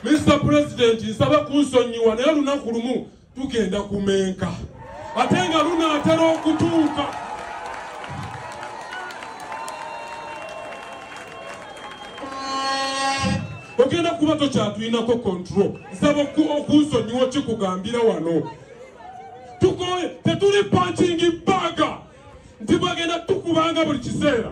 Mr President nsaba kunsonyiwa naye olunaku lumu tugenda kumenka ate nga lunaatera okutuuka ogenda kuba tokyatulinako control nsaba okunsonyiwa kikugambira wano tukoye tetuli pankingi baga nti bwagenda tukubanga buli kiseera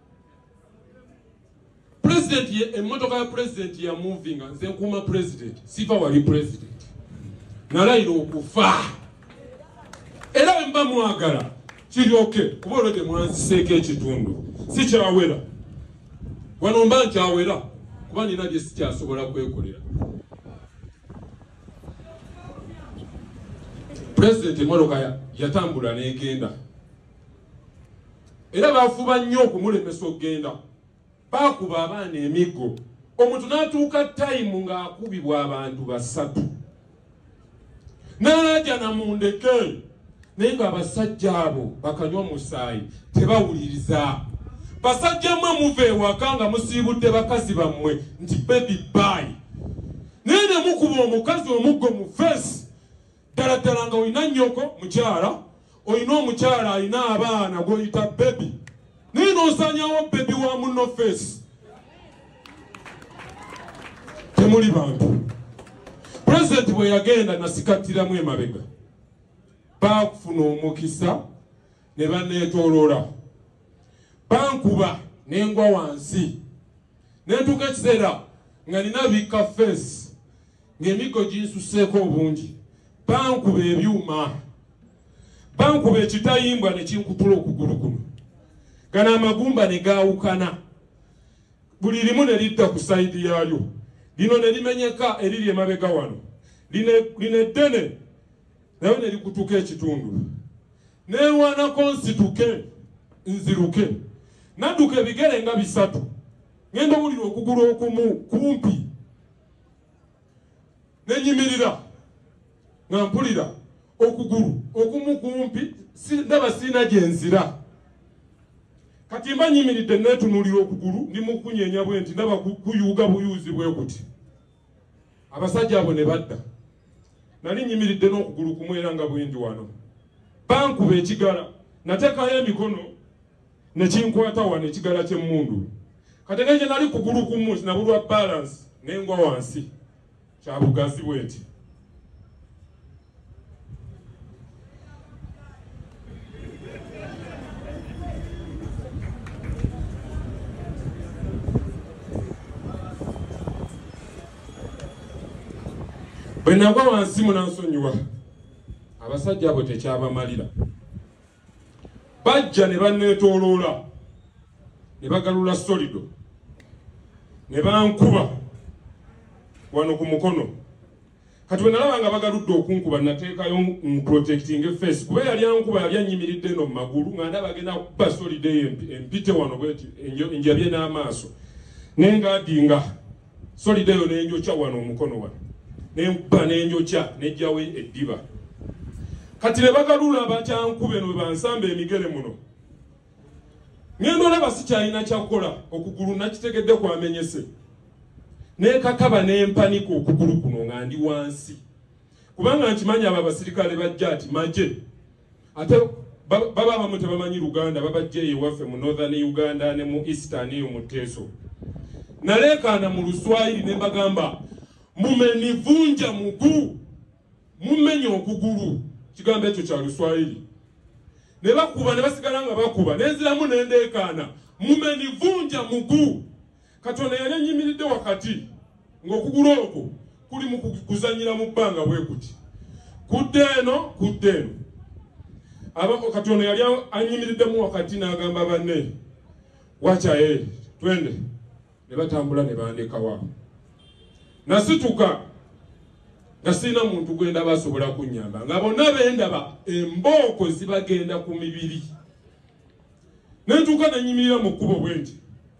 pulezidenti ye emmotoka ya pulezidenti ya muvinga nze nkuuma pulezidenti siva wali pulezidenti nalayira okufa era wemba mwagala kiryoke kuba olwo gye mwanziseeko ekitundu sikyawera wano mba nkyawera kuba nina bye sikyasobola kwekolera pulezidenti emmotoka yatambula n'egenda era bafuba nnyo okumulemesa okugenda baakuba abaana emiggo omuntu n'atuuka tayimu ng'akubibwa abantu basatu n'alaajana mu ndeke naye ng'abasajja abo bakanywa omusaayi tebawuliriza basajja mmwe muva ewaka nga musiibudde bakazi bammwe nti bebi baayi naye ne mukuba omukazi omuggo mu feesi ddala ddala nga olina nnyoko mukyala olina omukyala alina abaana gwoyita bebi naye nosanyawo bebi wa muno feesi temuli bantu pulezidenti bwe yagenda nasikattiramu emabega baakufuna omukisa ne baneetoolola bankuba nengwa wansi nentuuka ekiseera nga nina bikka feesi ng'emiggo ginsusseeko obungi bankuba ebyuma bankuba ekitayimbwa ne kinkutula okugulu kuno gano amagumba ne gaawukana buli limu ne lidda ku sayidi yaalyo lino ne limenyeka eriri emabega wano lino eddene nayo ne likutuka ekitundu neerwanako nsituke nziruke nadduka ebigere nga bisatu ngenda owulira okugulu okumu kumpi nenyimirira nga mpulira okugulu okumu kumpi ndaba siina gyenzira kati mba nyimiridde netunulira okugulu ndi mukunyenya bwe nti ndaba kuyuuga buyuuzi bwe kuti abasajja abo ne badda nali nyimiridde n'okugulu kumwera nga bwendi wano bankuba ekigala natekayo emikono ne kinkwata wano ekigala ky'emmundu kati ne gye nali kugulu kumu nabulwa balansi ne ngwa wansi kya bugazi bweti bwe nagwa wansi munansonyiwa abasajja abo tekyabamalira bajja ne banneetooloola ne bagalula solido ne bankuba wano ku mukono kati bwe nalaba nga bagaludde okunkuba nateekayo nprotecting efeesi kuba yali ankuba yali annyimiridde eno mu magulu nga ndaba agenda kuba solido eyo empite wano bweti enjabye n'amaaso naye ngaadinga solidayo nenjokya wano omukono wano nekuba nenjokya nejjawo eddiba kati nebagalula bakyankube no webansamba emigere muno ngenda olaba sikyalina kyakukola okugulu nakitegedde kwamenyese nekakaba nempanika okugulu kuno nga ndi wansi kubanga nkimanyi abo abasirikale bajja ati maje ate baba abamu tebamanyi luganda babajja eyo waffe mu northern uganda ne mu eastern eyo mu teeso naleekaana mu luswayiri ne mbagamba mumenivunja mugu mumenya okugulu kigambo ekyo kya luswayiri ne bakuba ne basigala nga bakuba nenziramu nendeekaana mumenivunja mugu Katonda yali annyimiridde wakati ng'okugulu okwo kuli mu kuzanyira mu bbanga bwe kuti kudde eno kudde eno abako katonda yali anyimiriddemu wakati n'agamba banne wakyaye twende ne batambula ne bandekawa nasituka nga sirina muntu gwendaba asobola kunnyamba nga bonna bendaba embooko zibagenda ku mibiri nentuuka nenyimirira mu kkubo bwe nti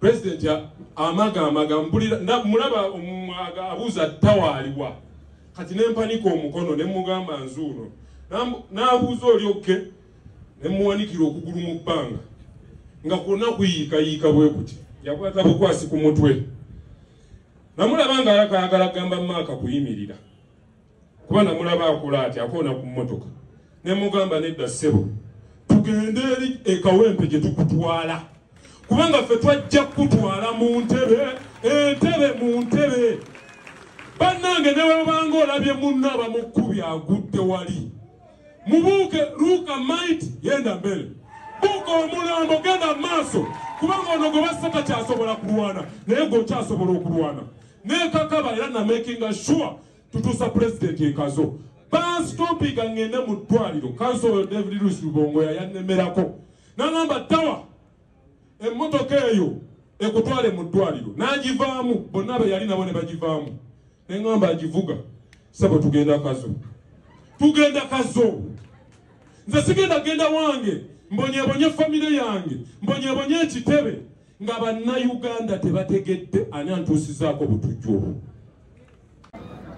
President amaga amaga mbulira mulaba omwaga abuza tawaliwa kati nempanika omukono ne mugamba nzuuno nabuuza oli okke ne muwanikira okugulu mu bbanga nga kwonna kuyiika yiika bwe kuti yakwata bukwasi ku mutwe namulaba nga alakayagala gamba maaka kuyimirira kuba namulaba akola ati akoona ku mmotoka ne mugamba nedda ssebo tugende eri ekawempe gye tukutwala kubanga ffe twajja kukutwala mu ntebe entebe mu ntebe bannange ne webanga olabye munno abamukkubi agudde wali mubuuke luuka maiti yenda mbere buuka omulambo genda mu maaso kubanga ono gwe bassa takyasobola kulwana naye gweokyasobola okulwana nekakaba era namakinga sure tutuusa pulezidenti ekazo bansitompinga ngende mu ddwaliro kanso oyo david luis lubongo yayannemerako nangamba tawa emmotoka eyo ekutwale mu ddwaliro n'agivaamu bonna be yali nabo ne bagivaamu ne ngamba agivuga sebo tugenda kazo tugenda kazo nze sigenda genda wange mbonyebonye famire yange mbonyebonye ekitebe Nga bannayuganda tebategedde ani antuusizaako butujju obwo.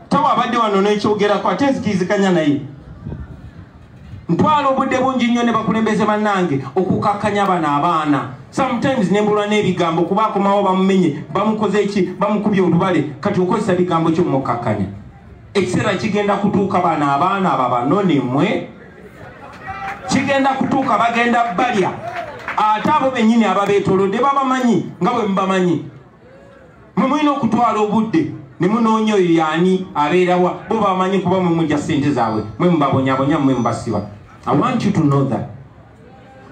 Tawe abadde wano n'ekyogerako ate nzikiriziganya naye. Ntwala obudde bungi nnyo ne bakulembeze bannange okukakkanya bano abaana. Sometimes ne mbulwa n'ebigambo kuba akomawo bamumenye bamukoze ki bamukubye olubale kati okozesa bigambo kyo mukakkanya. Ekiseera kigenda kutuuka bano abaana babanone mwe. kigenda kutuuka bagenda balya ate abo benyini ababetolode babamanyi nga bwe mubamanyi mwe mulina okutwala obudde ne munoonya oyo yaani abeerawa bo bamanyi kuba mwe mugya ssente zaabwe mwe mubabonyabonya mwe mubasiba i want you to know that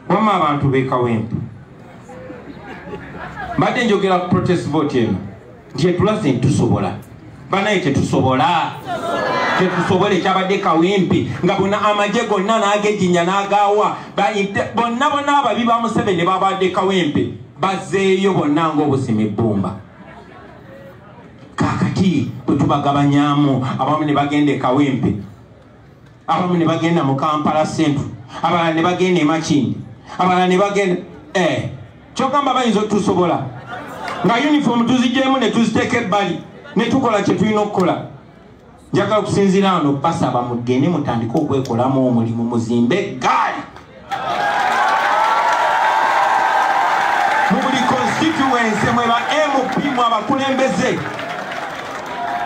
wamma abantu bekawempe mbadde njogera ku protest vote eno nti etulaze ntusobola banaye tetusobola tetusobola ekyabadde kawempe nga bona amagye gonna nagejinya nagawa bonna bona ababi ba museveni babadde kawempe bazeeyo bonna ngaobusima ebbumba kakati bwetubagabanyamu abamu ne bagenda ekawempe abamu ne bagenda mu kampala central abalala ne bagenda emakindi abalala ne bagenda eh, kyogamba bayinza otusobola nga uniform tuzigyemu ne tuziteeka ebbali ne tukola kye tulina okukola njagala okusinziira ano basaba mugende mutandike okwekolamu omulimu muzimbe gaali mu buli constituency mwe ba mp mu abakulembeze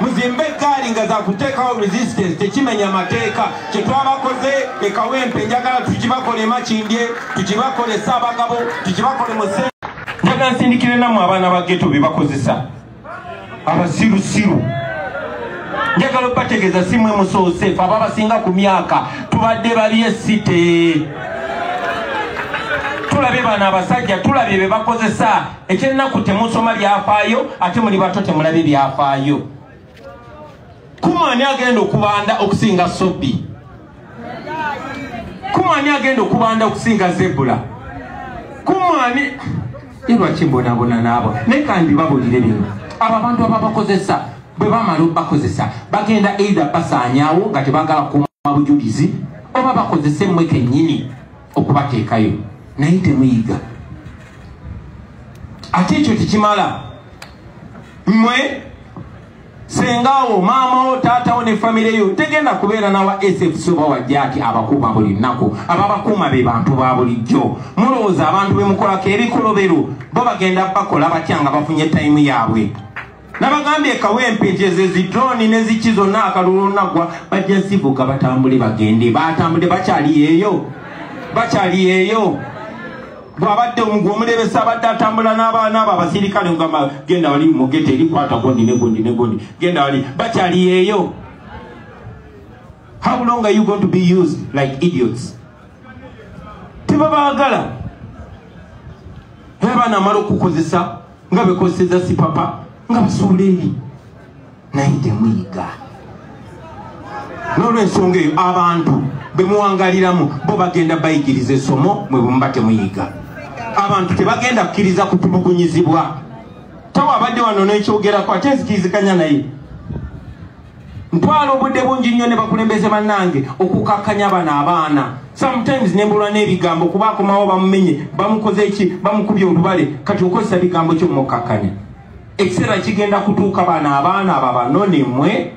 muzimbe eggaali nga zakuteekawo resistance tekimenya mateeka kyetwabakoze ekawempe njagala tukibakole makindye tukibakole saabagabo tukibakole muse njagala nsindikire namu abaana ba geto bebakozesa abasirusiru njagala obategeeza simwe musoose fe aba abasinga ku myaka tubadde babye site tulabye bano abasajja tulabye be bakozesa ekyennaku temusoma byafaayo ate muli bato temulabye byafaayo kuma ani agenda okubanda okusinga sobi kuma ani agenda okubanda okusinga zebula kuma ani ilwaki mbonabona naabo naye kandi babulire bino abo abantu ababakozesa bwe bamala obakozesa bagenda eidha basaanyawo nga tebagala kuma bujulizi oba bakozese mmwe kennyini okubateekayo naye temuyiga ate ekyo tekimala mmwe sengawo maamawo taatawo ne famire yo tegenda kubeera nawa sfc oba wajjaaki abakuuma buli nnaku ababakuuma be bantu ba bulijjo mulowooza abantu bemukolako ebikolobero bo bagenda bakola batya nga bafunye tayimu yaabwe nabagambye kawempe nti ezo ezidroni neziki zonna akalulu olunaggwa bajja zivuga batambule bagende batambule bakyali yeeyo bakyali yeeyo bwabadde omugwa omulebesa abadde atambula n'abaana abo abasirikale ogamba genda wali mugete eri kwata gondi ne gondi ne gondi genda wali bakyali yeeyo how long are you going to be used like idiots tebabaagala abaana amala okukozesa nga bekozeseza sipapa nga basuula eri naye temuyiga nolwensonga eyo abantu bemuwangaliramu bo bagenda bayigiriza esomo mwe bwemuba temuyiga abantu tebagenda kukiriza kutulugunyizibwa tawe abadde wano nekyogerako ate nzikirizikanya naye ntwala obudde bungi nnyo ne bakulembeze bannange okukakkanya bano abaana sometimes nembulwa n'ebigambo kuba akomawo bamumenye bamukoze eki bamukubye olubale kati okozesa bigambo kyo mukakkanya ekiseera kigenda kutuuka bano abaana abo abanone mwe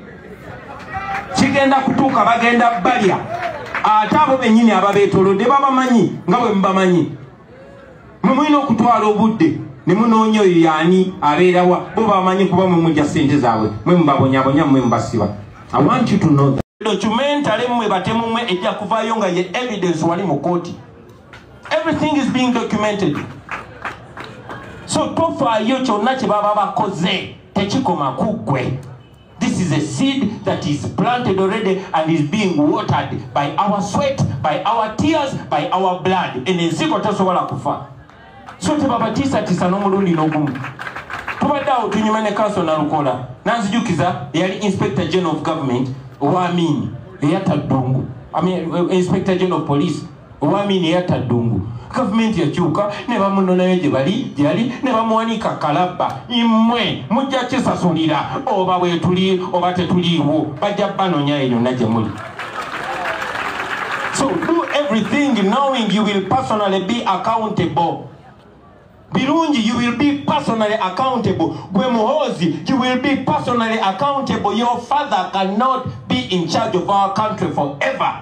kigenda kutuuka bagenda balya ate abo bennyini ababeetolodde babamanyi nga bwe mubamanyi mwe mulina okutwala obudde ne munoonya oyo yaani abeerawa bo babamanyi kuba mwe mujja ssente zaabwe mwe mubabonyabonya mwe mubasiba awantu tuno documentale mwe batemumwe ejja kuvaayo nga ye evidence wali mu kooti everything is being documented so tofaayo kyonna kye baba bakoze tekikoma kuggwe this is a seed that is planted already and is being watered by our sweat by our tears by our blood eno ensigo tesobola kufa so tebabatiisatiisa n'omulundi n'ogumu tubadde awo tunyuma ne kanso nalukola nanzijukiza eyali inspector general of government owa amini eyatta ddungu inspector general of police Owamini yatta ddungu gavumenti yakyuka ne bamunonayo gye bali gye yali ne bamuwanika kalabba imwe mujja kisasulira oba bwetuli oba tetuliiwo bajja banonya eyo na gye muli so do everything knowing you will personally be accountable birungi you will be personally accountable gwe muhoozi you will be personally accountable your father cannot be in charge of our country forever